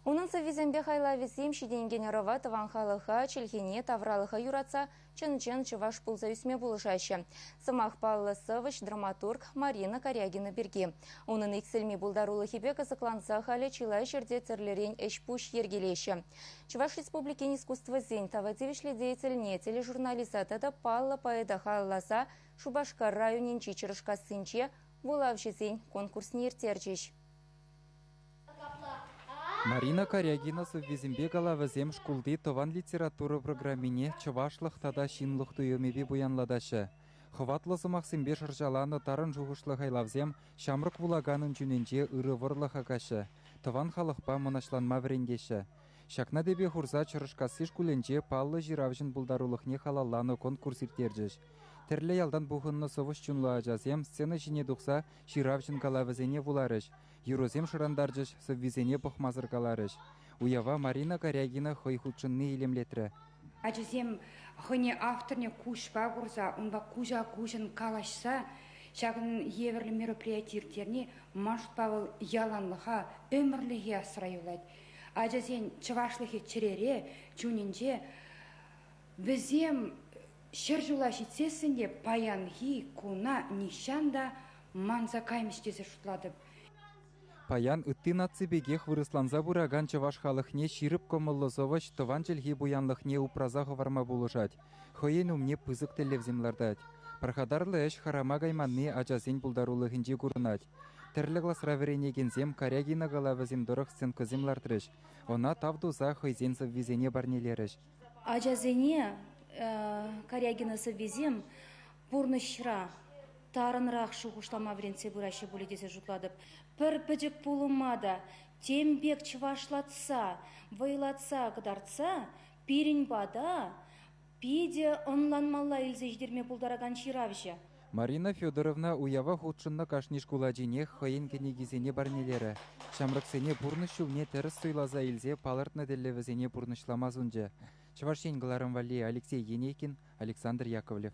Унӑн сӑввисемпе хайлавӗсем ҫитӗнекен ӑрӑва тӑван халӑха, чӗлхене, тавралӑха юратса чӑн-чӑн чӑваш пулса ӳсме пулӑшаҫҫӗ. Сӑмах паллӑ сӑвӑҫ, драматург Марина Корягина пирки. Унӑн иксӗлми пултарулӑхӗпе кӑсӑкланса халӗ чылай ҫӗрте тӗрлӗрен ӗҫ-пуҫ йӗркелеҫҫӗ. Чӑваш Республикин искусствӑсен тава тивӗҫлӗ деятельне тележурналиста тата паллӑ поэта халалласа Шупашкар районӗнчи Чӑрӑшкассинче вулавҫӑсен конкурсне ирттерчӗҫ. Марина Корягина сӑввисемпе калавӗсем шкулти тӑван литература программине чӑвашлӑх тата ҫынлӑх туйӑмӗпе пуянлатаҫҫӗ. Хӑватлӑ сӑмахсемпе шӑрҫаланӑ тарӑн шухӑшлӑ хайлавсем ҫамрӑк вулаканӑн чунӗнче ырӑ вӑрлӑх акаҫҫӗ, тӑван халӑхпа мӑнаҫланма вӗрентеҫҫӗ. Ҫакна тӗпе хурса Чӑрӑшкасси шкулӗнче паллӑ ҫыравҫӑн пултарулӑхне халалланӑ конкурс ирттерчӗҫ. Тӗрлӗ ялтан пухӑннӑ сӑвӑҫ чунлӑ ачасем сцена ҫине тухса ҫыравҫӑн калавӗсене вуларӗҫ, Юрӑсем шӑрантарчӗҫ, сӑввисене пӑхмасӑр каларӗҫ. Уява Марина Корягина хӑй хутшӑнни илемлетрӗ. Ачасем хӑйне авторне куҫпа курса, унпа куҫа-куҫӑн калаҫса ҫакӑн евӗрлӗ мероприяти ирттерни машӑнпа вӑл яланлӑха, ӗмӗрлӗхе асра юлать. Ачасен чӑвашлӑхӗ чӗрере, чунӗнче. Вӗсем ҫӗр ҫула ҫитсессӗн те паянхи куна нихҫан та манса каймӗҫ тесе шутлатӑп. Паян ытти наци пекех вырӑсланса пыракан чӑваш халӑхне ҫирӗп кӑмӑллӑ сӑвӑҫ тӑван чӗлхи пуянлӑхне упраса хӑварма пулӑшать, хӑйӗн умне пысӑк тӗллевсем лартать. Пархатарлӑ ӗҫ хӑрама кайманни ачасен пултарулӑхӗнче курӑнать. Тӗрлӗ класра вӗренекенсем Карягина калавӗсем тӑрӑх сценкӑсем лартрӗҫ, ӑна тав туса хӑйсен сӑввисене парнелерӗҫ. Ачасене Корягина сӑввисем пурнӑҫра тарӑнрах шухӑшлама вӗрентсе пыраҫҫӗ пулӗ тесе шутлатӑп. Пӗр пӗчӗк пулӑма та тем пек чӑвашлатса, вӑйлатса кӑтартса пирӗн пата питӗ ӑнланмалла илсе ҫитерме пултаракан ҫыравҫӑ. Марина Федоровна уява хутшӑннӑ кашни шкул ачинех хӑйӗн кӗнекисене парнелерӗ, ҫамрӑксене пурнӑҫ ҫулне тӗрӗс суйласа илсе палӑртнӑ тӗллевӗсене пурнӑҫлама сунчӗ, Чӑваш Ен кӑларӑм валли Алексей Енейкин, Александр Яковлев.